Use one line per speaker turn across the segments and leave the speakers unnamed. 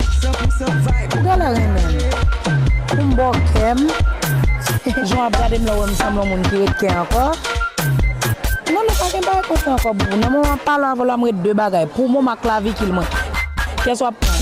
Ou genlè renmen m pou m ba w kè m Jan w ap gade m la ou wè m sanble yon moun ki ret kè ankò Non non pa gen bagay konsa ankò boo Nan moman pale avè w la m ret de bagay Pou mom ak klavikil mwen Kyès w ap pran?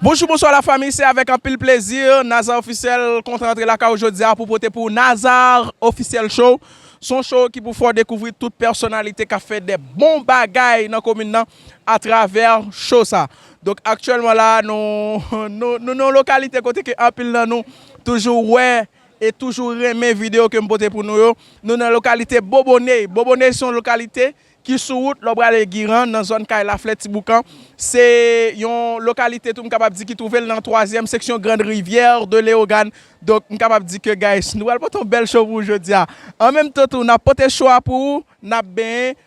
Bonjou bonswa la fami se avèk anpil plezi Naza officiel kontan antre lakay ou jodi a pou pote pou ou Naza officiel show son show ki pou fè w dekouvri tout pèsonalite kap fè de bon bagay nan komin nan. a travè show sa. Donk aktyèlman la a nou nou nan yon lokalite kote ke anpil nan nou toujou wè e toujou renmen video ke m pote pou nou yo. Nou nan lokalite Boboney. Boboney se yon lokalite ki sou wout lè w prale Giran nan zòn kay Laflè Ti Boukan. Se yon lokalite tou m kapab di ki twouve l nan twazyèm seksyon Grande Rivière de Léogâne. Donk m kapab di ke guys nou pral pote yon bèl show pou ou jodi a. An menm tan tou n ap pote show a pou ou, n ap benyen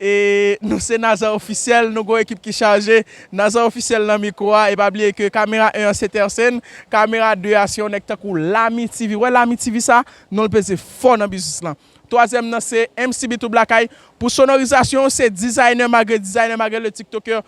E nou se Naza Officiel, nou gon ekip ki chaje, Naza Officiel nan mikro a, e pa bliye ke kamera 1 an se Tercene, kamera 2 a se yon nèg tankou Lamy TV, ou wè Lamy TV sa, non l peze fò nan biznis lan. Twazyèm nan se MCB Trouble Lakay, pou sonorizasyon se Designer Magre, Designer Magre le Tiktoker,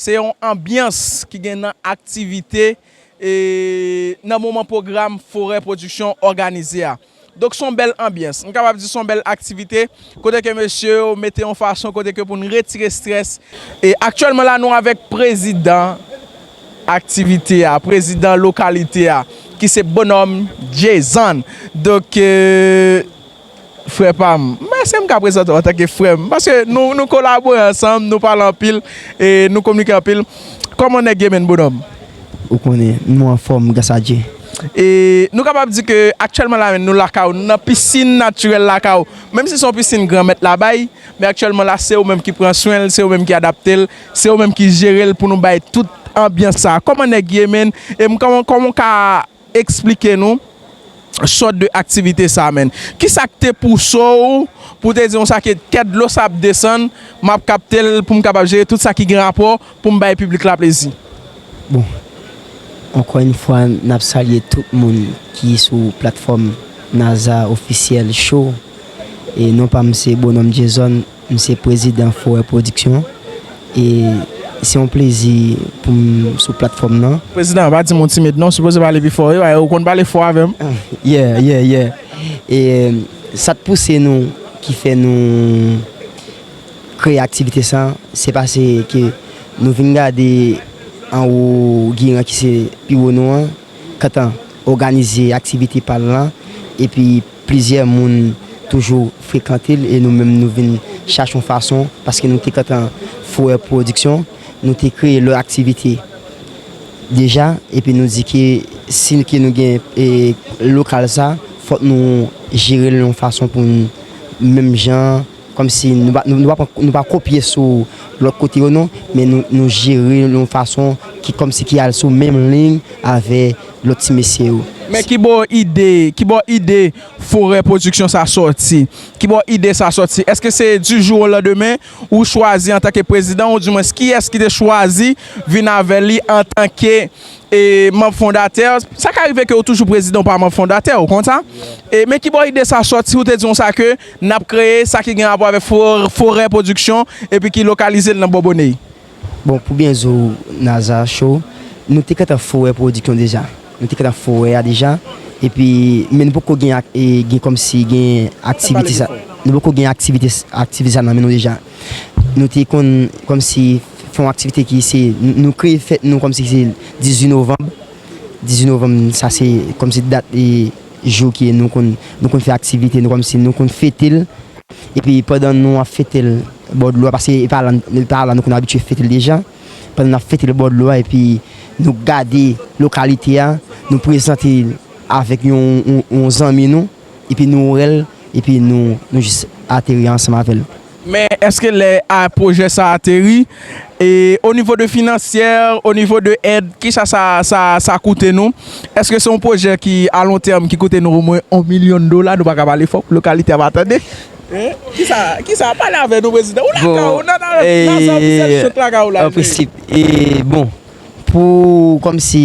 Se yon anbyans ki gen nan aktivite e nan moman pwogram Forè Pwodiksyon òganize a. Donk son bèl anbyans. M kapab di son bèl aktivite kote ke mesye yo mete yon fason kote ke pou n retire strès. E aktyèlman la nou avèk prezidan aktivite a, prezidan lokalite a ki se Bonhomme Jason. Donk. Frè pam, mwen èske m ka prezante w antanke frè m? Paske nou kolabore ansanm, nou pale anpil, e nou kominike anpil. Kòman nèg ye menn bonòm? Ou konnen,
nou anfòm gras a Dye. E nou
kapab di ke aktyèlman la menm nou lakay ou, nou nan pisin natirèl lakay ou. Menm si se yon pisin Granmèt la bay, men aktyèlman la se ou menm ki pran swen l, se ou menm ki adapte l, se ou menm ki jere l pou nou bay tout anbyans sa a. Kòman nèg ye menn? E m kòman, kòman w ka Eksplike nou sòt de aktivite sa menn. Kisa k te pouso w pou w te di konsa ke kè dlo sa ap desann, m ap kapte l pou m kapab jere tout sa ki gen rapò pou m bay piblik la plezi? Bon,
ankò yon fwa n ap salye tout moun ki sou platfòm Naza Officiel Show. E non pa m se Bonhomme Jason. M se prezidan Forè Production e se yon plezi pou m sou platfòm nan. Prezidan, pa di m yon timid
non, w sipoze pale pi fò, ewa e ou konn pale fò avè m. Yeah, yeah,
yeah. E sa t pouse nou ki fè nou kreye aktivite sa, se pase ke nou vin gade anwo giran ki se pi wo nou an, kantan òganize aktivite pa l lan epi Plizyè moun toujou frekante l e nou menm nou vin chache yon fason, paske nou te gentan foure pwodiksyon, nou te kreye lòt aktivite deja epi nou di ke si ke nou gen lokal sa fòk nou jere l yon fason pou n menm jan. Kòmsi nou pa nou pa pran nou pa kopye sou lòt kote yo non, men nou nou jere l yon fason ki kòmsi ki al sou menm liy avè lòt ti mesye yo. Men kibò
ide kibò ide Forè Production sa sòti? Kibò ide sa sòti? Èske se di jou o landemen ou chwazi antanke prezidan ou di mwens kiyès ki te chwazi vin avè li antanke e manb fondatè? Sa ka rive ke ou toujou prezidan ou pa manb fondatè ou konn sa? E men kibò ide sa sòti ou te di konsa ke N ap kreye sa ki gen rapò avèk forè pwodiksyon epi ki lokalize l nan bò Boney. Bon, pou byen
zo Naza cho, nou te gentan forè pwodiksyon deja. Nou te gentan forè a deja epi men nou poko gen gen kòmsi gen aktivite sa. Nou poko gen aktivite aktivite sa nan men nou deja. Nou te konn kòmsi fè yon aktivite ki se nou kreye fèt nou kòmsi se 18 novanm. 18 novanm sa se kòmsi dat Jou ke nou konn nou konn fè aktivite nou kòmsi nou konn fete l. Epi pandan nou ap fete l bò dlo a paske e pa la e pa la nou konn abitye fete l deja. Pandan n ap fete l bò dlo a epi nou gade lokalite a, nou prezante l avèk yon yon zanmi nou epi nou wè l epi nou nou jis ateri ansanm avè l. Men eske lè
a pwojè sa ateri e o nivo de finansyè, o nivo de èd ki sa sa koute nou? Eske se yon pwojè ki a lon tèm ki koute nou o mwen yon milyon dola? Nou pa ka pale fò pou lokalite ap atande. Ki sa ki sa pale avè nou prezidan? Ou lakay ou nan nan plaza ofisyèl sot
lakay ou la jwe. Anpresip e bon pou kòm si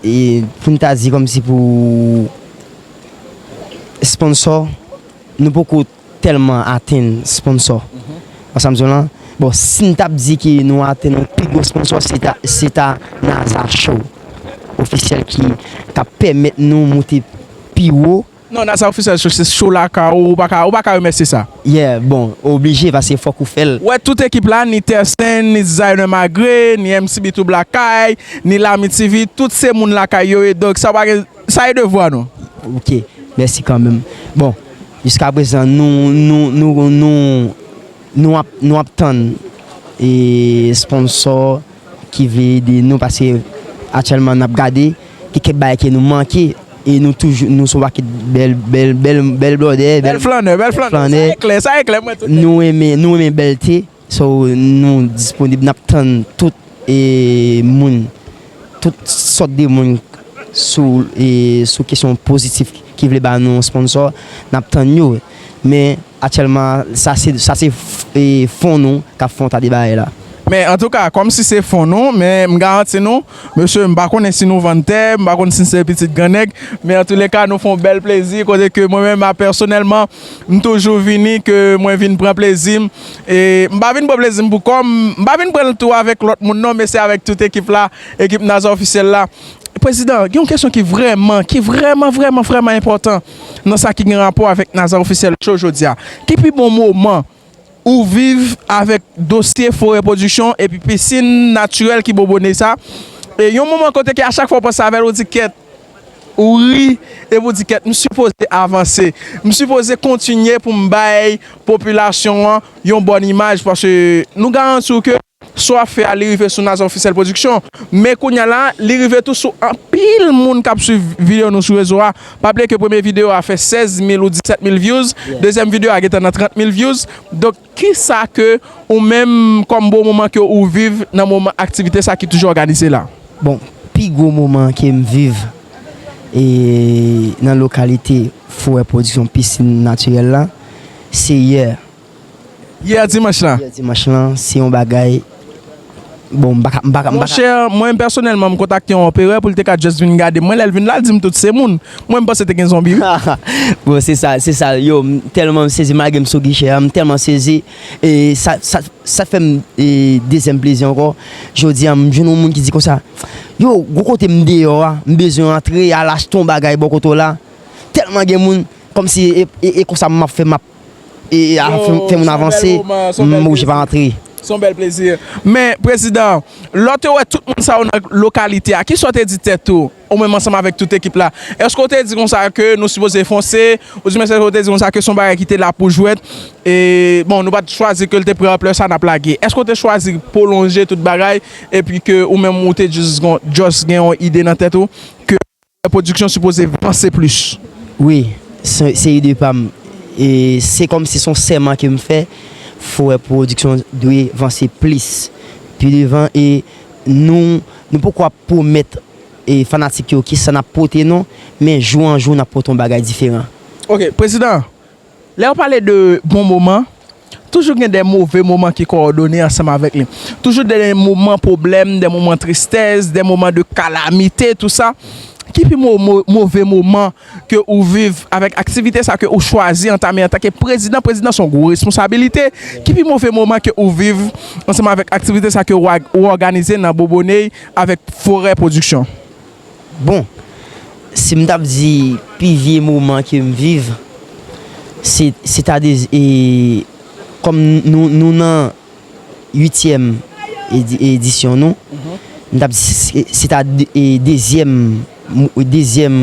e pou n ta di kòm si pou sponsò nou poko. tèlman atenn sponsò an sa m di w lan bon si n t ap di ke nou atenn yon pi gwo sponsò se ta se ta Naza Show Officiel ki k ap pèmèt nou moute pi wo. Non Naza Officiel Show
se show la ka ou pa ka ou pa ka remèsye sa. Yeah bon ou
oblije paske fòk ou fè l. Wè tout ekip la ni
Tercent ni Designer Magre ni MC Bitou Blakay ni Lami TV tout se moun lakay yo ye donk sa pa gen sa e devwa nou. Ok
mèsi kanmenm bon Jiska prezan nou nou nou nou nou ap nou ap tann e sponsò ki vle ede nou paske aktyèlman nap gade gen kèk bagay ke nou manke e nou toujou nou sou pakèt bèl bèl bèl bèl blòdè bèl flannè bèl flannè sa e klè sa e klè mwen tout nèt nou renmen nou renmen bèlte. So nou disponib nap tann tout e moun tout sòt de moun sou e sou kesyon pozitif ki vle ba nou yon sponsò nap tann yo men atyèlman sa se sa se e fon nou kap fon ta de bagay la. Men antouka kòm
si se fon nou men m garanti nou mesye m pa konnen si nou vann tè m pa konn si se pitit gran nèg men antoulèka nou fon bèl plezi kote ke mwen menm a pèsonèlman M toujou vini ke mwen vin pran plezi m e m pa vin pran plezi m pou kò m, m pa vin pran l tou avèk lòt moun non men se avèk tout ekip la, ekip Naza Ofisyèl la. Prezidan, gen yon kesyon ki vrèman, ki vrèman vrèman vrèman enpòtan nan sa ki gen rapò avèk Naza Ofisyèl Show jodi a. Ki pi bon moman Ou viv avèk dosye Forè Pwodiksyon epi pisin natirèl ki bobone sa e yon moman kote ke a chak fwa ou panse avèl ou di kèt, ou ri epi ou di kèt m sipoze avanse, m sipoze kontinye pou m bay popilasyon an yon bòn imaj paske nou garanti w ke. Sa w ap fè a li rive sou Naza Officiel Production, men kounya la li rive tou sou anpil moun kap swiv video nou sou rezo a, pa bliye ke premye video a fè 16 mil ou 17 mil views, dezyèm video a gentan nan 30 mil views, donk kisa ke ou menm kòm bon moman ke ou viv nan moman aktivite sa ki toujou òganize la? Bon pi
gwo moman ke m viv e nan lokalite Forè Production Piscine Naturelle la se yè Yè dimanch lan. Yè dimanch lan se
yon bagay
bon m paka m paka. Monchè
mwen pèsonèlman m kontakte yon operè pou l te ka just vin gade m wè lè l vin la l di m tout se moun mwen m panse te gen zonbi wi. Bon se
sa se sa yo m tèlman m sezi malgre m sou gichè an m tèlman sezi e sa sa sa fè m e dezyèm plezi ankò jodi an m jwenn yon moun ki di konsa yo gwo kote m deyò a m bezwen antre al achte yon bagay bò kote w la tèlman gen moun kòmsi e e konsa m ap fè m ap e a fè moun avanse, m oblije pa antre. Son bèl plezi.
Men, prezidan, lè w te wè tout moun sa yo nan lokalite a, ki sa w te di tèt ou, ou menm ansanm avèk tout ekip la? Èske w te di konsa ke nou sipoze fonse? Oubyen èske w te di konsa ke se yon bagay ki te la pou jwèt e, bon, nou pa t chwazi ke l te pran anplè sa n ap lage? Èske w te chwazi pwolonje tout bagay epi ke ou menm ou te jis gen yon ide nan tèt ou ke Bèl production sipoze vanse plis wi.
Se ide pam se kòmsi son sèman kem fè foe production dwe vanse plis pi devan e nou nou poko ap pwomèt fanatik yo kisa nap pote non men jou an jou nap pote yon bagay diferan. Ok prezidan
Lè yo pale de bon moman, toujou gen de move moman ki kowòdone ansanm avèk li. Toujou gen de moman pwoblèm, de moman tristès, de moman de kalamite, tou sa. Ki pi move moman ke ou viv avèk aktivite sa ke ou chwazi antame antanke prezidan? Prezidan se yon gwo responsabilite. Ki pi move moman ke ou viv ansanm avèk aktivite sa ke ou òganize nan Boboney avèk Forè Pwodiksyon? Bon,
si m t ap di pi vye moman ke m viv, se sètadi kòm nou nan uityèm edisyon nou, m t ap di se ta dezyèm, dezyèm,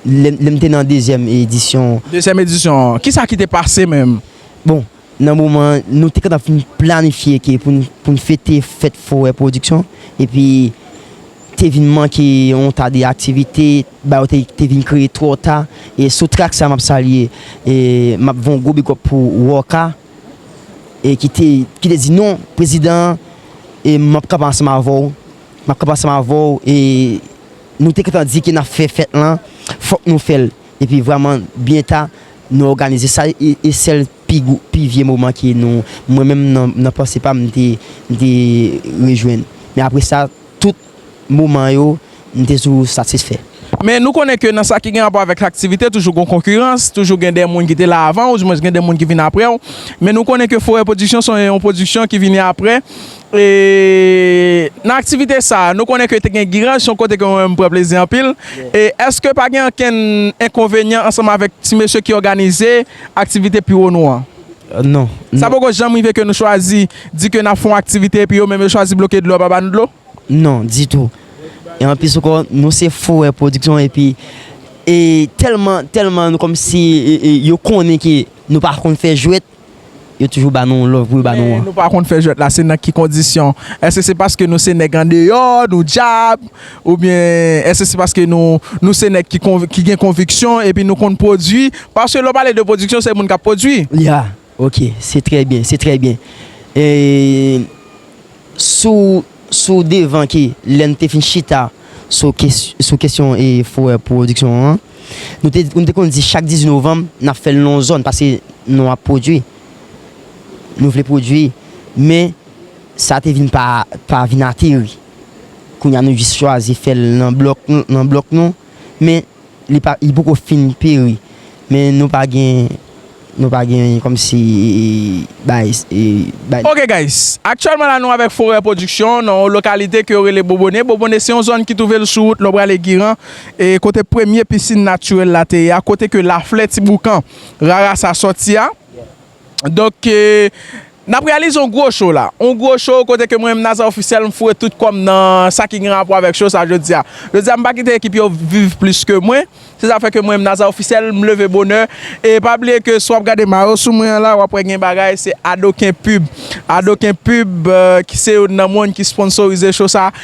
lè m te nan dezyèm edisyon. Dezyèm edisyon,
kisa ki te pase menm? Bon. Nan
moman an, nou te kapab fin planifye ke pou n fete fèt forè pwodiksyon epi te vin manke yon ta de aktivite, ba yo te vin kreye twò ta. E sou trak sa a m ap salye, m ap voun gwo bigòp pou Rocka e ki te ki te di non prezidan an e m ap kanpe ansanm avè w, m ap kanpe ansanm avè w e nou te gentan di ke n ap fè fèt lan fòk nou fè l epi vrèman byen ta Nou òganize sa e sèl pi vye moman ke nou, mwen menm nan panse pa m, m te rejwenn. Men apre sa, tout moman yo, m te toujou satisfè. Men nou konnen ke
nan sa ki gen rapò avèk aktivite, toujou gen konkirans, toujou gen de moun ki te la avan ou, di mwens gen de moun ki vin apre ou. Men nou konnen ke Forè Pwodiksyon se yon pwodiksyon ki vini apre. E nan aktivite sa a, nou konnen ke te gen giraj, se yon kote ke mwen menm m pran plezi anpil. E èske pa gen ankenn enkonvenyan ansanm avèk ti mesye ki òganize aktivite pi wo nou an? Non.
Sa poko janm
rive ke nou chwazi di ke n ap fè yon aktivite epi yo menm yo chwazi bloke dlo yo pa ba nou dlo? Non, ditou.
E anplis ankò, nou se fouwè pwodiksyon epi e tèlman, tèlman nou kòmsi yo konnen ke nou pa konn fè jwèt, Yo toujou ba nou love pou yo ba nou an. Men nou pa konn fè jwèt la
se
nan
ki kondisyon? Èske se paske nou se nèg andeyò, nou djab? Oubyen èske se paske nou se nèg ki gen konviksyon epi nou konn pwodui? Paske lè w pale de pwodiksyon se moun k ap pwodui. Liha, Ok,
se trè byen, se trè byen. Eee. Sou sou devan ke lè n te fin chita sou sou kesyon forè pwodiksyon an, nou te nou te konn di chak 18 novanm n ap fè l nan yon zòn paske nou ap pwodui, nou vle pwodui men sa te vin pa pa vin ateri. Kounye a nou jis chwazi fè l nan blòk nan blòk nou men li pa li poko fin peri men nou pa gen nou pa gen kòmsi
bay bay. Ok guys, aktyèlman la nou avèk Forè Production nan yon lokalite ke yo rele Bobone, Bobone se yon zòn ki twouve l sou wout lè w prale Giran e kote premye pisin natirèl la te ye a, kote ke laflè ti boukan rara sa sòti a. Donk, n ap reyalize yon gwo show la. Yon gwo show kote ke mwen menm Nazer Officiel m foure tout kò m nan sa ki gen rapò avèk show sa jodi a. Jodi a m pa kite ekip yo viv plis ke mwen. Se sa fè ke mwen menm Nazer Officiel m leve bonè. E pa bliye ke si w ap gade mayo sou mwen an la, w ap wè gen bagay se Adoken Pub. Adoken Pub ki se youn nan moun ki sponsorize show sa.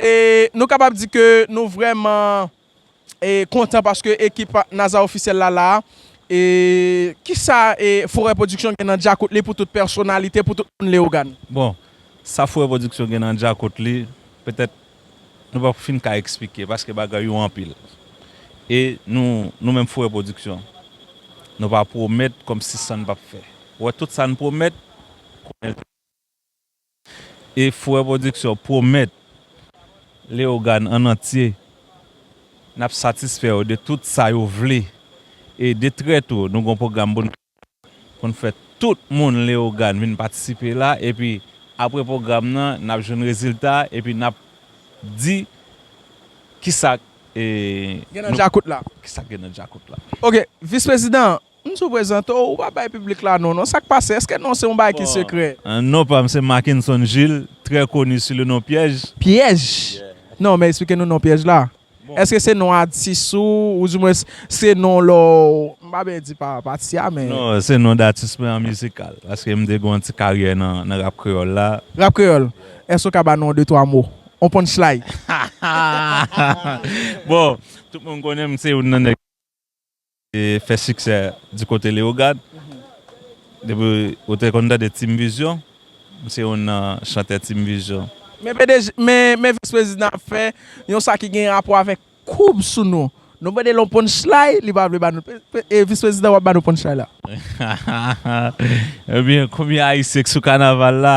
E
nou kapab di ke nou vrèman kontan paske ekip Naza Ofisyèl la la. E kisa Fourè Pwodiksyon gen nan djakout li pou tout pèsonalite, pou tout moun Leyogàn? Bon, sa
Fourè Pwodiksyon gen nan djakout li, petèt nou pap fin ka eksplike paske bagay yo anpil. E nou, nou menm Fourè Pwodiksyon, nou pa pwomèt kòmsi san pap fè. Wè tout sa n pwomèt, konnen l fèt. E Fourè Production pwomèt Leogane an antye n ap satisfè yo de tout sa yo vle e de trè tou nou gon pwogram pou n pou n fè tout moun Leogane vin patisipe la epi apre pwogram nan n ap jwenn rezilta epi n ap di kisa k Gen nan djakout la.
kisa k gen nan djakout
la. Ok, Vis Prezidan,
M sou prezante w, ou pa bay piblik la non w non, sa k pase? Eske non w se yon bagay ki sekrè? Non pa m se
Mackenson Jules, trè koni sou le non Pyèj. Pyèj?
Non, men esplike nou non Pyèj la. Eske se non atis ou, ou di mwens se non lè w, m pa byen di pa pati a men. Non, se non datis
mwen an mizikal, paske m te gen yon ti karyè nan rap kreyòl la. Rap kreyòl?
Èske ou ka ba nou yon de twa mo? Yon punchlay?
Bon, tout moun konnen m se youn nan nèg. Te fè siksè di kote Leogad. Depi ou te konn tande Team Vision, m se youn nan chantè Team Vision. Men pdg, men,
men vis prezidan ap fè yon sa ki gen rapò avèk koub sou nou. Nou mande l yon punchlay, li pa vle ba nou. E vis prezidan wap ba nou punchlay la. Ebyen
konbyen ayisyen k sou kanaval la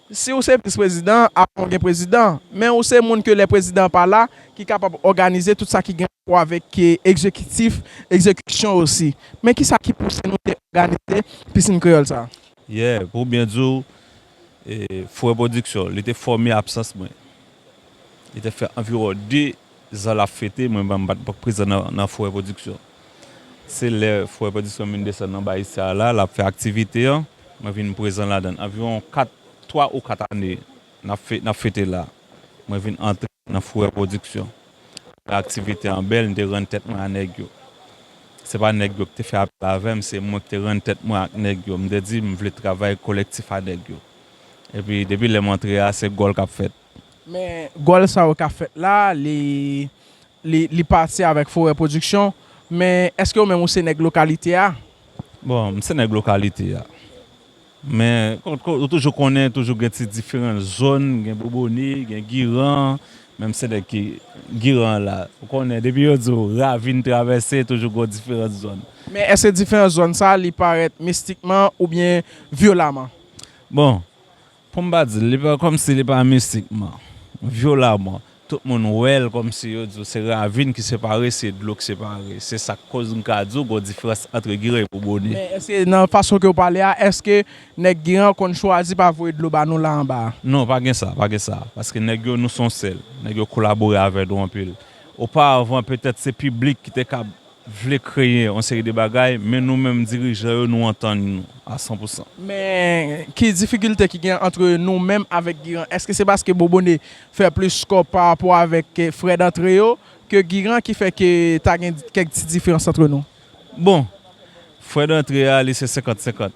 Si ou se vis prezidan, apre ou gen prezidan. Men ou se moun ke lè prezidan an pa la, ki kapab òganize tout sa ki gen rapò avèk egzekitif, egzekisyon osi. Men ki sa ki pouse nou te òganize Pisin Kreyòl sa a? Yè, pou byen
di ou, Fourè Pwodiksyon, li te fòme absans mwen. Li te fè anviwon 2 Zan lap fete mwen ban mpat k prezan nan fourè production se lè fourè production vin desann anba Isya la lap fè aktivite an mwen vin prezan ladann anviwon 4 3 ou 4 ane nap fete la mwen vin antre nan fourè production lè aktivite an bèl mte rann tèt mwen a nèg yo se pa nèg yo kite fè apèl avèm se mwen kite rann tèt mwen ak nèg yo mte di mvle travay kolektif a nèg yo epi depi lèm antre a se gòl kap fèt. Men gòl
sa yo ka fèt la, li li pati avèk Forè Production, men èske ou menm ou se nèg lokalite a? Bon, m se
nèg lokalite a. Men ou toujou konnen toujou gen ti diferan zòn, gen Bobone, gen Giran, men m se nèg ki Giran la. Ou konnen depi yo di w ravin travèse toujou gon diferans zòn. Men èske diferans
zòn sa li parèt mistikman oubyen vyolaman? Bon,
Pou m pa di l, li pa kòmsi li pa mistikman, vyolamman, tout moun wè l kòmsi yo di w se ravin ki separe, se dlo ki separe. Se sa k koz m ka di w gon diferans antre Giran epi Boni. Men èske nan fason
ke w pale a, èske nèg Giran yo konn chwazi pa voye dlo ba nou la anba a? Non, pa gen sa, pa gen
sa. Paske nèg yo nou s on sèl. Nèg yo kolabore avè nou anpil. Oparavan petèt se piblik ki te kab vle kreye yon seri de bagay, men nou menm dirijan yo nou antann nou a san pou san. Men
ki difikilte ki gen antre nou menm avèk Giran? Eske se paske Bobone fè plis skò pa rapò avèk frè dantre yo ke Giran ki fè ke ta gen kèk ti diferans antre nou? Bon,
frè dantre a li se senkant senkant.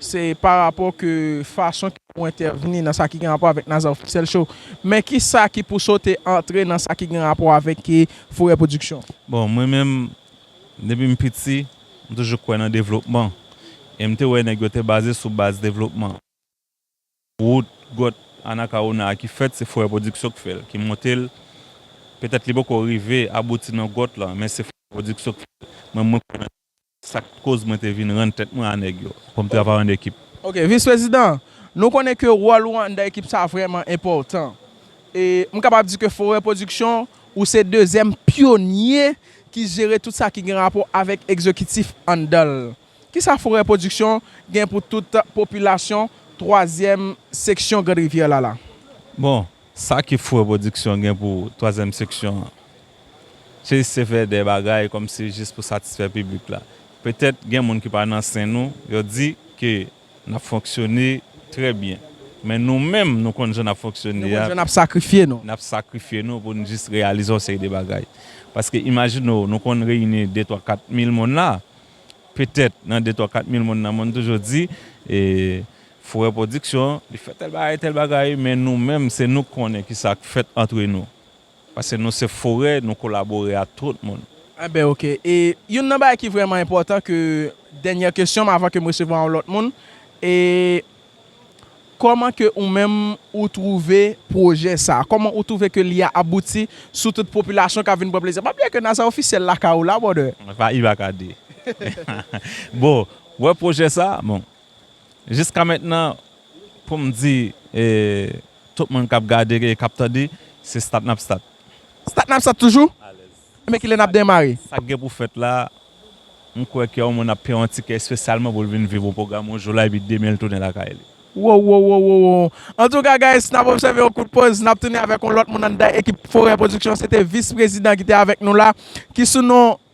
Se pa rapò ke fason ke ou entèvni nan sa ki gen rapò avèk Naza Officiel Show. Men ki sa ki pousse w te antre nan sa ki gen rapò avèk Forè Production? Bon, mwen menm,
depi m piti, m toujou kwè nan devlopman. E m te wè nèg yo te baze sou baz devlopman. Wout, gòt, Anakawona a ki fèt, se Forè Production ki fè l, ki monte l. Petèt li poko rive abouti nan gòt lan, men se Forè Production ki fè l. Mwen, mwen kwè nan devlopman. Sa k koz mwen te vin rann tèt mwen a nèg yo, pou m travay an ekip. Ok, Vis Prezidan,
nou konnen ke wòl ou anndan ekip sa a vrèman enpòtan. E m kapab di ke Forè Pwodiksyon, ou se dezyèm pyonye ki jere tout sa ki gen rapò avèk ekzekitif anndan l. Kisa Forè Pwodiksyon gen pou tout popilasyon twazyèm seksyon Grande Rivière la la? Bon,
sa ki Forè Pwodiksyon gen pou twazyèm seksyon Jis se fè de bagay kòmsi jis pou satisfè piblik la. Petèt gen moun ki pa nan sen nou, yo di ke n ap fonksyone trè byen. Men nou menm nou konn jan n ap fonksyone a. Nou konn jan n ap sakrifye
nou. N ap sakrifye nou
pou n jis reyalize yon seri de bagay. Paske imajine w, nou konn reyini de twa kat mil moun la. Petèt nan de twa kat mil moun nan moun toujou di, e Fourè Pwodiksyon li fè tèl bagay, tèl bagay. Men nou menm se nou k konnen kisa k fèt antre nou. Paske nou se forè, nou kolabore ak tout moun. Enben ok. E
youn nan bagay ki vrèman enpòtan ke dènyè kesyon m avan ke m resevwa yon lòt moun, e kòman ke ou menm ou twouve pwojè sa a? Kòman ou twouve ke li a abouti sou tout popilasyon k ap vin pran plezi a? Pa bliye ke nan sa ofisyèl lakay ou la brother. Epa i pa ka di.
Bon, wè pwojè sa a? Bon, Jiskamentnan pou m di tout moun k ap gade e k ap tande, se stat n ap stat. Stat n ap stat
toujou? Enben kilè n ap demare? Sa k gen pou fèt la,
m kwè ke yon moun ap peye yon tikè espesyalman pou l vin viv yon pwogram yon jou la epi demen l tounen lakay li. Wowowowowo!
Antouka guys, n ap obsève yon kout poz, n ap tounen avèk yon lòt moun anndan ekip Forè Production. Se te Vis Prezidan ki te avèk nou la, ki sou non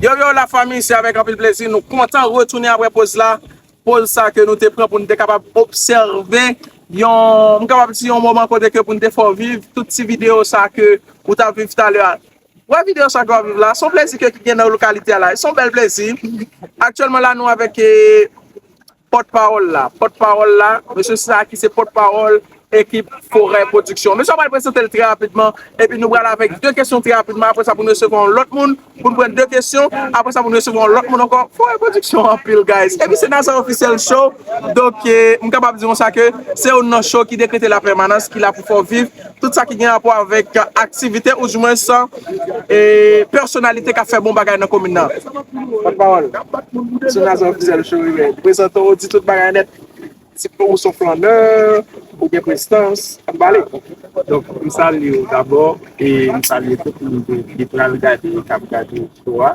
Yo yo la fami se avèk anpil plezi nou kontan retounen aprè poz la, poz sa ke nou te pran pou nou te kapab obsève yon m kapab di yon moman kote ke pou nou te fè w viv tout ti videyo sa ke ou tap viv talè a. Wè videyo sa ke wap viv la, se yon plezi ke ki gen nan lokalite a la, se yon bèl plezi. Aktyèlman la nou avèk e. Pòt pawòl la Pòt pawòl la Mesye sa ki se pòt pawòl ekip Forè Pwodiksyon. Mesye yo pral prezante l trè rapidman epi nou pral avèk 2 kesyon trè rapidman apre sa pou nou resevwa yon lòt moun pou nou pran 2 kesyon apre sa pou nou resevwa yon lòt moun ankò Forè Pwodiksyon anpil guys epi se Nassau Officiel Show donk m kapab di konsa ke se youn nan show ki dekrete la pèmanans ki la pou fè w viv Tout sa ki gen rapò avèk aktivite ou di mwens pèsonalite k ap fè bon bagay nan komin nan. Pòt pawòl, Sou Nazon Ofisyèl Show Rive, prezante w, di tout bagay nèt, si ou s on flannè, ou gen prestans, an pale. Donk m
salye w dabò e m salye tout moun ki pral gade, k ap gade show a.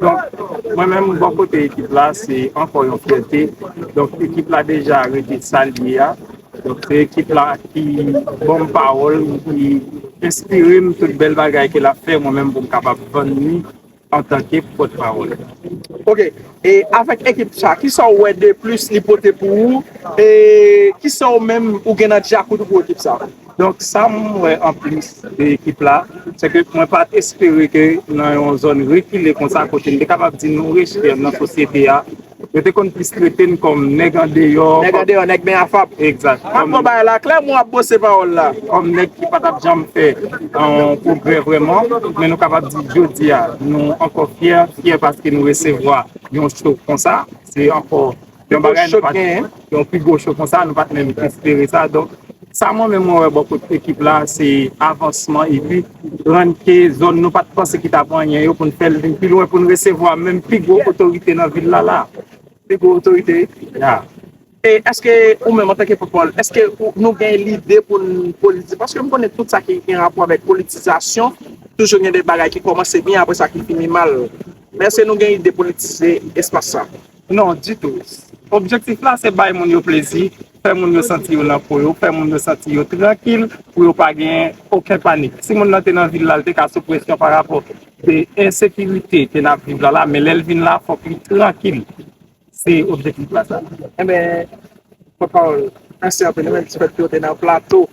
Donk,
mwen menm bò kote ekip la, se ankò yon fyète. Donk, ekip la deja rete sa l ye a. Donk, se ekip la ki ban m pawòl, ki enspire m tout bèl bagay ke l ap fè mwen menm pou m kapab vann li antanke pòtpawòl. Ok, e
avèk ekip sa, kisa w wè deplis li pote pou ou? E kisa ou menm ou gen nan djakout ou pou ekip sa? Donk
sa m wè anplis de ekip la, se ke mwen pa t espere ke nan yon zòn rekile konsa kote m te kapab di nou rejte nan sosyete a, yo te konn plis trete n kòm nèg andeyò. Nèg andeyò, nèg men afap.
Egzat. M ap pran bagay
la klè,
men w ap bwose pawòl la. Kòm nèg ki pa t ap
janm fè yon pwogrè vrèman. Men nou kapab di jodi a nou ankò fyè, fyè paske nou resevwa yon cho konsa. Se ankò. Yon bagay nou pat gen, yon pi gwo cho konsa, nou pat menm espere sa. Donk, sa mwen menm mwen wè bò kote ekip la, se avansman epi rann ke zòn nou pat panse ki ta pou anyen yo pou n fè l vin pi lwen pou n resevwa menm pi gwo otorite nan vil la la. Pi gwo otorite? Ya. E eske
ou menm antanke Popol, eske nou gen lide pou n politize? Paske m konnen tout sa ki gen rapò avèk politizasyon, toujou gen de bagay ki kòmanse byen apre sa ki fini mal. Men eske nou gen ide politize espas sa? Non, ditou.
Objektif la se bay moun yo plezi, fè moun yo santi yo nan po yo, fè moun yo santi yo trankil pou yo pa gen oken panik. Si moun nan te nan vil la, l te ka sou presyon pa rapò de ensekirite ke n ap viv la la, men lè l vin la, fòk li trankil. Se objektif la sa. Enben,
pòtpawòl, mèsi anpil. Mwen menm ki fèt pwote nan Plato.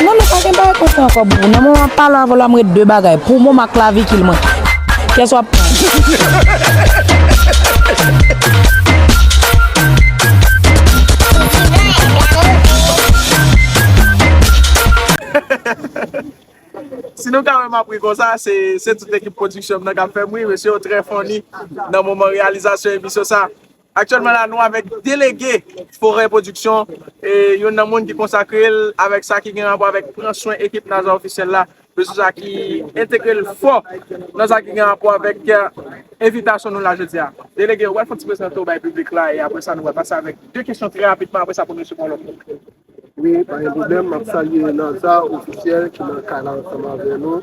Non nou pa gen bagay kon sa ankò boubou nan moman pale avè w la m ret de bagay pou mom ak klavikil mwen kès wap
Si nou ka wè map ri konsa se tout ekip pwodiksyon m nan kap fè m ri mesye yo trè funny nan moman reyalizasyon emisyon sa. Aktyèlman la nou avèk delege Forè Pwodiksyon, youn nan moun ki konsakre l avèk sa ki gen rapò avèk pran swen ekip Nazon Ofisyèl la, mesye sa ki entegre l fò nan sa ki gen rapò avèk envitasyon nou la jodi a. Delege, ou pral fè yon ti prezante w bay piblik la e apresa nou pral pase avèk 2 kesyon trè rapidman, apresa pou mesye pran lòt. Wi pa
gen pwoblèm, map salye Naza officiel ki nan kay la ansanm avè nou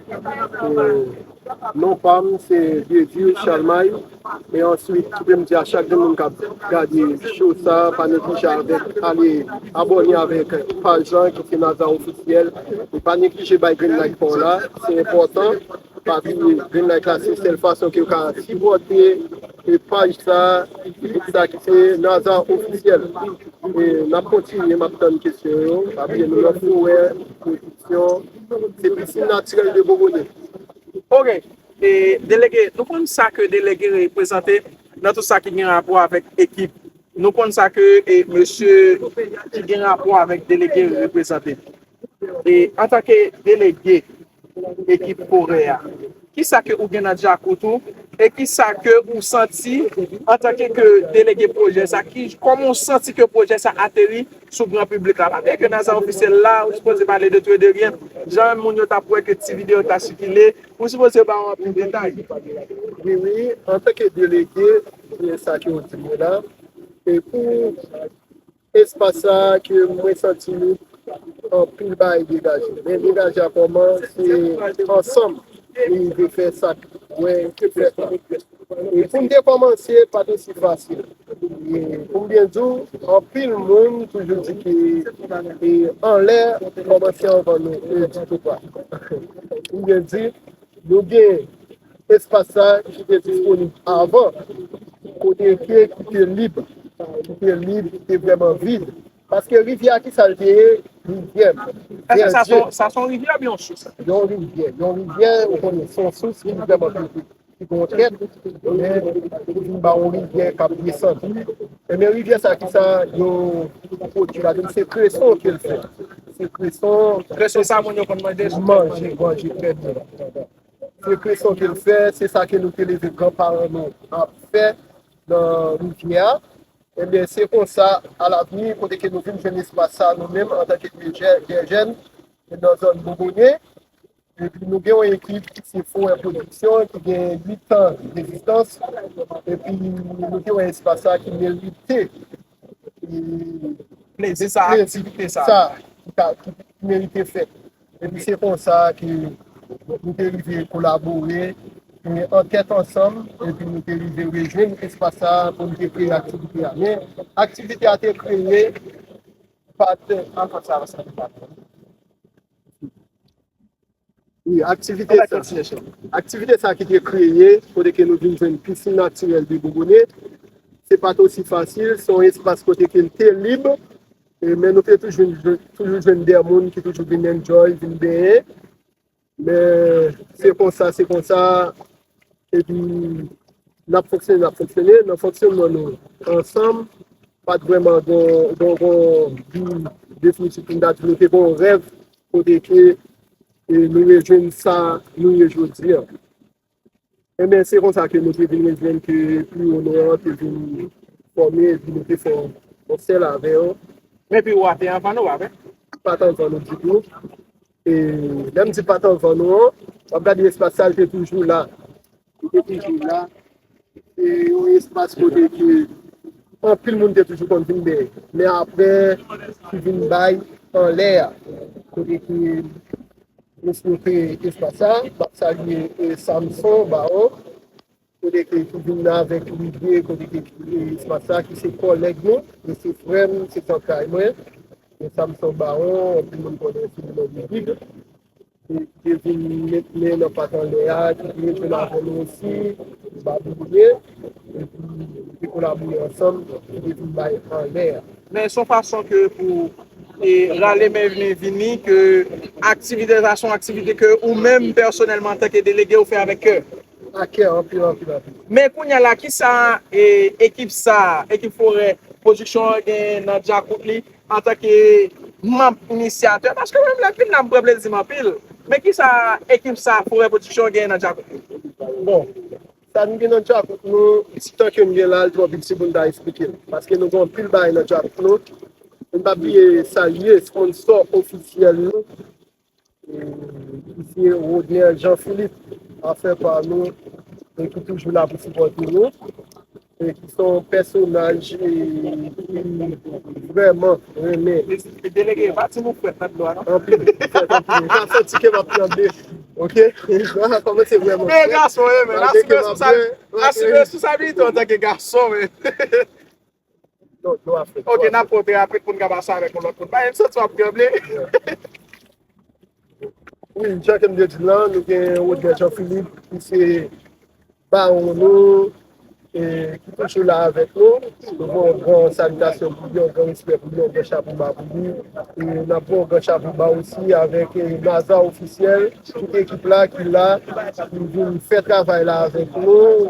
e non pam se Dieudieu Chalmay e answit kipem di a chak gen moun kap gade cho sa pa neglije avèk ale abòne avèk paj lan ki se Naza officiel e pa neglije bay grenn like paw la se enpòtan Pa bliye vin like la se sèl fason kew ka sipòte paj sa group sa ki se Naza ofisyèl e nap kontinye map tann kesyon yo pa bliye nou nan forè pwodiksyon se pisinn natirèl de bobone. Ok e
delege nou konn sa ke delege reprezante nan tout sa ki gen rapò avèk ekip nou konn sa ke e mesye ki gen rapò avèk delege reprezante e antanke delege Ekip Kore a. Kisa ke ou gen nan djakout ou e kisa ke ou santi antanke ke delege pwojè sa ki kòman ou santi ke pwojè sa ateri sou gran piblik la pabliye ke nan sa ofisyèl la ou sipoze pale de tou e de rien jan moun yo tap wè ke ti video ta sikile ou sipoze ba yo anpil detay. Wi wi
antanke delege se sa ke ou di mwen la e pou Espas sa ke mwen santi li anpil bagay degaje men degaje a kòman se ansanm nou rive fè sak mwen fèt la e poum te kòmanse pat osi fasil e poum byen diw anpil moun toujou di ke e anlè kòmanse anvan nou e di tou pa poum byen di nou gen Espas sa ki te disponib avan, kote ke ki te lib, ki te lib, ki te vreman vid. Paske rivyè a kisa l te ye? Rivyè, Èske sa se yon,
sa se yon rivyè oubyen yon sous? Yon rivyè, yon
rivyè ou konnen se yon sous ki vreman piti, ki gen yon trèt, men ki vin ba yon rivyè k ap desann. Enben rivyè sa kisa yo pwodui ladan l? Se kreson ke l fè. Se kreson. Kreson sa moun yo konn
manje sou tèt manje. Manje, manje,
trè byen. Frekeson ke l fè, se sa ke nou te leve gran paran nou ap fè nan rivyè a. Ebyen se konsa a lavni kote ke nou vin jwenn espas sa nou menm an tanke de jèn nan zòn Bobone. Epi nou gen yon ekip ki se Forè Pwodiksyon ki gen 8 an degistans. Epi nou te wè espas sa ki merite
plezi sa, aktivite sa ki
merite fèt. Epi se konsa ke nou te rive kolabore, fini ankèt ansanm, epi nou te rive rejwenn espas sa a pou nou te kreye aktivite a. Men, aktivite a te kreye pat. Ankèt sa a se te pat. Wi, aktivite sa. Ankèt sèch la. Aktivite sa a ki te kreye, kote ke nou vin jwenn pisin natirèl de Bouboune, se pat osi fasil, se yon espas kote ke li te lib, Men nou te toujou jwenn de moun ki toujou vin enjoy, vin benyen. Men se konsa, se konsa. E pi n ap fonksyone, n ap fonksyone. Nan fonksyonman nou ansanm, pa t vrèman gen yon bi definitif pou n ta di. Nou te gen yon rèv kote ke nou rejwenn sa nou ye jodi an. Enben, se konsa ke nou te vin rejwenn ke pi wo non an te vin fòme epi nou te fè yon sèl avè yo. Men pi wo a te
anvan nou, avè. Pa t anvan nou
ditou. E lè m di pa t anvan nou an, w ap gade espas sa, l te toujou la. Li te toujou la. Se yon espas kote ke anpil moun te toujou konn vin bè. Men apre ki vin bay anlè a. Kote ke nou sou te espas sa. Map salye Samson Baron. Kote ke ki vin avèk lide kote ke espas sa ki se kòlèg nou. Li se frè m, se zantray mwen. Samson Baron, anpil moun konnen sou non Big. Te vin met men nan pat anlè a, ki te vin fèl avè nou osi, ba nou bouke, epi nou te kolabore ansanm, nou te vin bay anlè a. Men son fason
ke pou e rale men vini vini ke aktivite sa son aktivite ke ou menm pèsonèlman antanke delege ou fè avèk kè. Ak kè anpil anpil
anpil. Men kounya
la kisa e ekip sa, ekip forè pwodiksyon an gen nan dyakout li? Antanke manb inisyatè, paske mwen menm lè m fin la m pran plezi m anpil, men kisa ekip sa Forè Production genyen nan djakout nou? Bon,
sa nou gen nan djakout nou, ti tan ke m gen la, li twò piti pou m ta esplike l. Paske nou gen anpil bagay nan djakout nou, e m pa bliye salye sponsò ofisyèl nou, Misye Rodner Jean Philippe a fè pa nou e ki toujou la pou sipòte nou e ki son pèsonaj ki vrèman renmen
anpil ok Ok nap pote apre poun kaba sa avek yon lot moun. Bayem santi wap tranble.
Wi jan kem te di lan nou gen Rodney Jean Philippe ki se bawon nou e ki toujou la avek nou. Nou voye yon gran salitasyon pou li, yon gran respè pou li, yon gran chapo ba pou li. E nap voye yon gran chapo ba osi avek Naza Officiel, tout ekip la ki la pou vin fè travay la avek nou.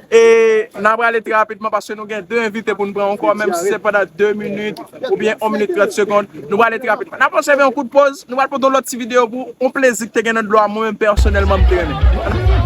E n a prale trè rapidman paske nou gen 2 envite pou n pran ankò menm si se pandan 2 minit oubyen 1 minit 30 segond nou prale trè rapidman. N ap obsève yon kout poz, nou pral pote yon lòt ti videyo pou ou, yon plezi ki te gen nan dlo a mwen menm pèsonèlman m te renmen.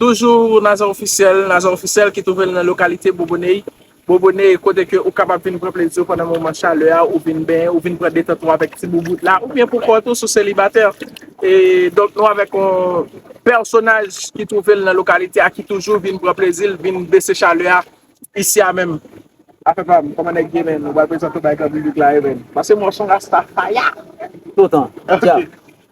Toujou Nazon Ofisyèl, Nazon Ofisyèl ki twouve l nan lokalite Boboney, Boboney, kote ke ou kapab vin pran plezi w pandan moman chalè a, ou vin benyen, ou vin pran detant ou avèk ti boubout la, oubyen pou kont ou si w selibatè. E donk nou avèk yon pèsonaj ki twouve l nan lokalite a ki toujou vin pran plezi l, vin bese chalè a isi a menm. Afè pa m, kòman nèg ye menn? Ou pral prezante w bay gran piblik la yo menn? Pase m wè w s on rasta faya! Toutan!
Djab!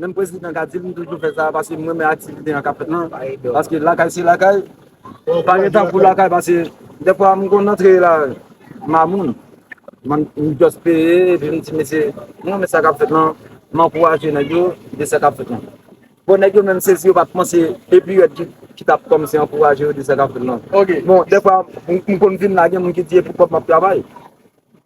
Menm prezidan ka dil m toujou fè sa paske m renmen aktivite an kap fèt lan paske lakay se lakay m pa gen tan pou lakay paske dèfwa m konn antre la mamoun m just peye epi m di mesye m renmen sa kap fèt lan m ankouraje nèg yo de sa kap fèt lan bon nèg yo menm se si yo pat panse epi yo di ki tap kòmanse ankouraje yo de sa kap fèt lan bon dèfwa m konn vin la gen moun ki di e pou kòb m ap travay.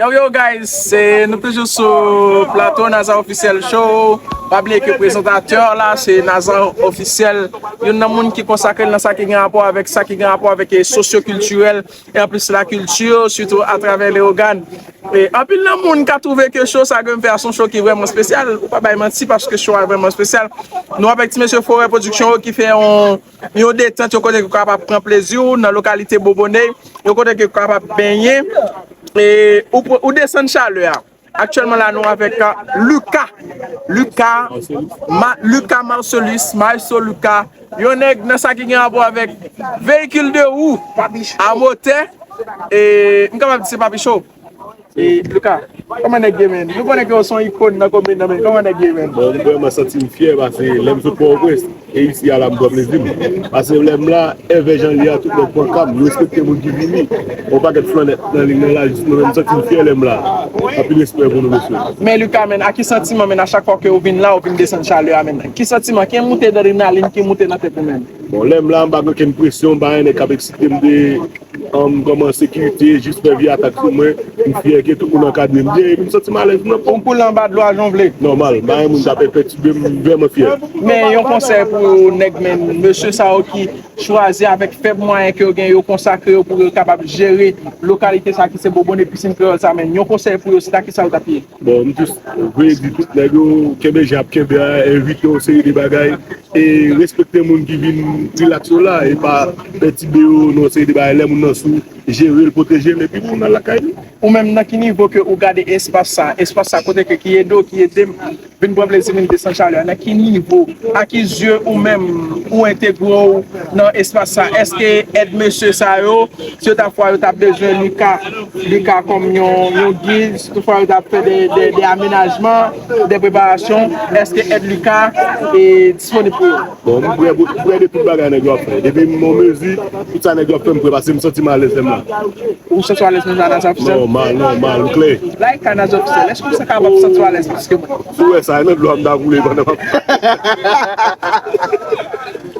Yo yo guys, se nou toujou sou plato Nazan Officiel Show Pa bliye ke prezantatè la se Nazan Officiel Youn nan moun ki konsakre l nan sa ki gen rapò avèk sa ki gen rapò avèk sosyo kiltirèl E anplis la kilti sitou atravè Leyogan E anpil nan moun ka twouve ke show sa ke m fè a se yon show ki vrèman spesyal Ou pa bay manti paske show a vrèman spesyal Nou avèk ti mesye Forè Production yo ki fè yon Yon detant, yon kote ke w kapab pran plezi w nan lokalite Boboney, yon kote ke w kapab benyen e ou desann chalè a. Aktyèlman la nou avèk Luca, Luca, Luca Marcelus, Maestro Luca, yon nèg nan sa ki gen rapò avèk veyikil de wou a motè e m kapab di se papi show. E Luka, kòman nèg ye menn? Nou konnen ke w se yon ikon nan komin nan men kòman nèg ye menn? Bon, m vrèman santi m
fyè pase lè m sot Pòtoprens e isi a la m pran plezi m. Pase lè m la, èvè jan li a, tout nèg pran ka m, yo respekte moun ki vini. Yon pakèt flannèt nan liy nan la jis mwen menm, m santi m fyè lè m la. Anpil respè pou nou mesye. Men Luka menn, ak ki
santiman menn a chak fwa ke ou vin la ou vin desann chalè a menn? Ki santiman, ki moute drenalin ki moute nan tèt ou menn? Bon lèm la mpa gen
okenn presyon mpa gen nèg kap eksitem de anm kòman sekirite jis fè vye atak sou mwen mfyè ke tout moun ankadrem byen epi msantim alèz nan pom koule anba dlo a
jan vle nòmal mpa gen moun kap
enpètibem mvrèman fyè. Men yon konsèy
pou nèg men mesye sa yo ki chwazi avèk fèb mwayen ke yo gen yo konsakre yo pou yo kapab jere lokalite sa ki se bobone pisin kreyòl sa men yon konsèy pou yo se ta kisa yo tap ye? Bon m jis vle
di tout nèg yo kenbe jan yap kenbe a evite yon seri de bagay e respekte moun ki vin rilaks yo la e pa pètibe yo nan yon seri de bagay lè moun nan sou jerel pwotejel epi moun al lakay li. Ou menm nan ki nivo ke
ou gade espas sa, espas sa kote ke ki ede w ki ede m vin pran plezi vin desann chalè a nan ki nivo a ki zye ou menm ou entegre w nan espas sa èske èd mesye sa yo Si yo ta fwa yo ta bezwen Lika, Lika kòm yon gid, si tou fwa yo ta fè de amenajman, de preparasyon, èske èd Lika disponib pou yo? Bon, m prè pou, m
prè de tout bagay nèg yo ap fè. Depi m an mezi, tout sa nèg yo ap fè m prè paske m santi m alèz lè m la. Ou santi w alèz
menm jan Naza Ofisyèl? Nòmal, nòmal, m klè.
Lika, Naza Ofisyèl,
èske ou se kapab ou santi w alèz plis ke mwen? Si w wè sa, nan dlo
a m ta koule pandan m ap.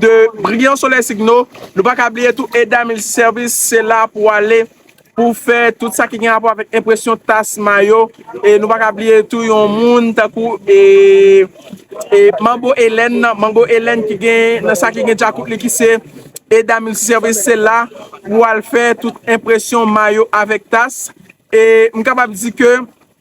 de Brian Soleil Signo. Nou pa ka bliye tou Eda Mills Service, se la pou w ale pou w fè tout sa ki gen rapò avèk enpresyon tas, mayo. E nou pa ka bliye tou yon moun tankou Manbo Elèn, Manbo Elèn ki gen nan sa ki gen djakout li ki se Eda Mills Service, se la pou w al fè tout enpresyon mayo avèk tas. E m kapab di ke.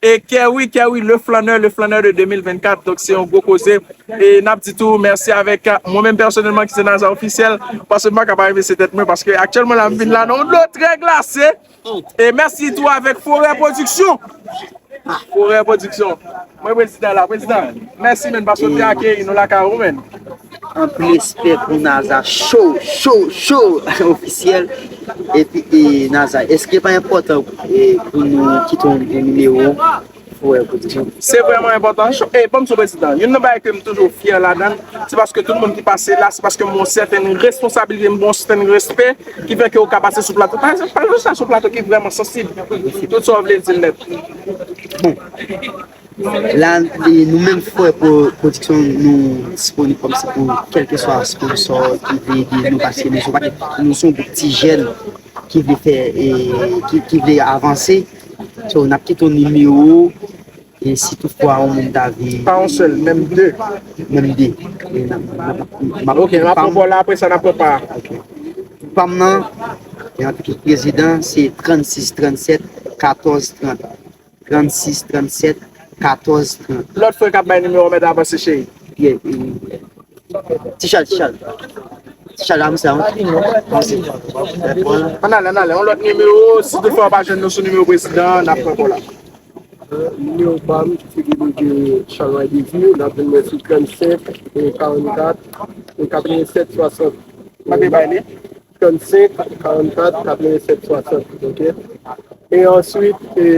E kè wi kè wi le flanneur le flanneur de 2024 donk se yon gwo koze e nap di tou mèsi avèk mwen menm pèsonèlman ki se Naza Ofisyèl paske m paka pa remèsye tèt mwen paske aktyèlman la m vin la nan yon dlo trè glase e mèsi tou avèk Forè Pwodiksyon Forè Pwodiksyon mwen prezidan la prezidan mèsi menn paske w te akeyi nou lakay ou menn. Anpil
respè pou Naza show show show officiel epi Naza eske pa enpòtan pou nou kite yon nimewo pou wè kote nou. Se vrèman enpòtan
show e banm sou prezidan youn nan bagay kem toujou fyè ladann se paske tout moun ki pase la se paske m gon sèten responsabilite m gon sèten respè ki fè ke ou ka pase sou plato pa ekzanp pale yon sa sou plato ki vrèman sansib tout sa w vle di l nèt bon.
La nou menm fwe pwodiksyon nou disponib kom se pou kelke swa sponsor ki vle ede nou paske nou se yon gwoup ti jèn ki vle fè ki vle avanse so nap kite yon nimewo e si tout fwa yon moun ta vle pa yon sèl menm 2
menm 2 ok nap pran pou la apre sa nap pran pa ok pam
nan yon pitit prezidan se 36 37 14 30. 36 37 14 30. Lot frè kap bay numéro
mèt avanse cheri.
Ti chal ti chal. Ti chal avanse avanse.
An ale an ale yon lot numéro si tou fwa pa jwenn nou sou numéro prezidan nap pran kola. Numéro
pam se ki pou ke chal way dezi nap jwenn mwen sou 37 44 87 60. Mande bay li. 35 44 87 60 ok e answit e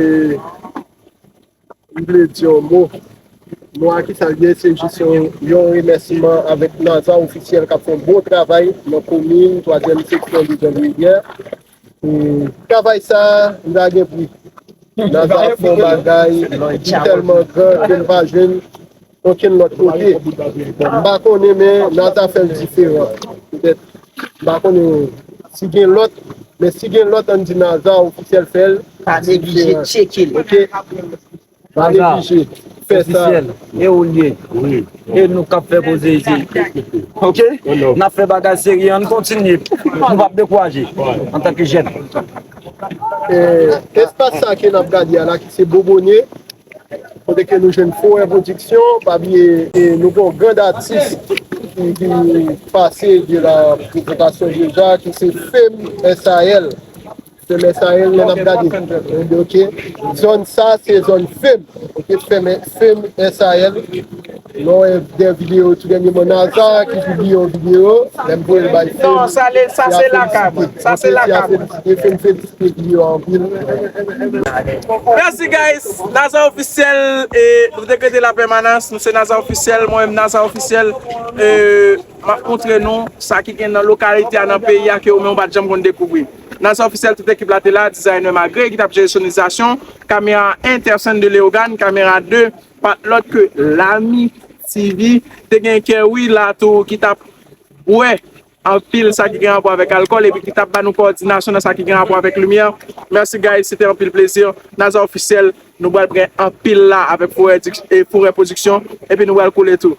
m vle di yon mo mo a kisa l ye se jis yon yon remèsiman avèk naza ofisyèl k ap fè bon travay nan komin twazyèm seksyon de janvivyè travay sa li pa gen pri naza ap fè yon bagay ki tèlman gran ke m pa jwenn Okenn lòt kote. M pa konnen men nan ta fè l diferan. Petèt. M pa konnen si gen lòt. Men si gen lòt an n di nan ta ofisyèl fè l. Pa neglije
tcheke l. Ok.
Pa neglije fè sa. Ofisyèl
e ou l ye. Wi. E nou k ap fè koze isit. Ok. N ap fè bagay serye an n kontinye. Nou pa p dekouraje antanke jèn.
Espas sa ke n ap gade a la ki se Bobone. Kote ke nou jwenn Forè Production, pa bliye nou gen yon grand atis ki pase de la presentasyon deja ki se Fem SAL. Fem SAL lè nap gade ok zòn sa se zòn Fem ok Fem SAL. Lè w wè de videyo tou dènyeman Naza ki pibliye yon videyo lè m voye l bay Femi Non
sa le sa se lakay mwen sa se lakay mwen Femi a felisite e Femi felisite Gio anpil. Merci guys Naza officiel e nou te krete la pèmanans nou se Naza officiel mwen menm Naza officiel e map montre nou sa ki gen nan lokalite a nan peyi a ke ou menm pat janm konn dekouvri Naza officiel tout ekip la te la designer Magre ki tap jere sonorizasyon kamera 1 Tersen de Leogane kamera 2 pat lòt ke Lamy TV te gen kè wi la tou ki tap bwè anpil sa ki gen rapò avèk alkòl epi ki tap ba nou kowòdinasyon nan sa ki gen rapò avèk limyè merci guys se te anpil plezi Naza Officiel nou pral pran anpil la avèk Forè production epi nou pral koule tou.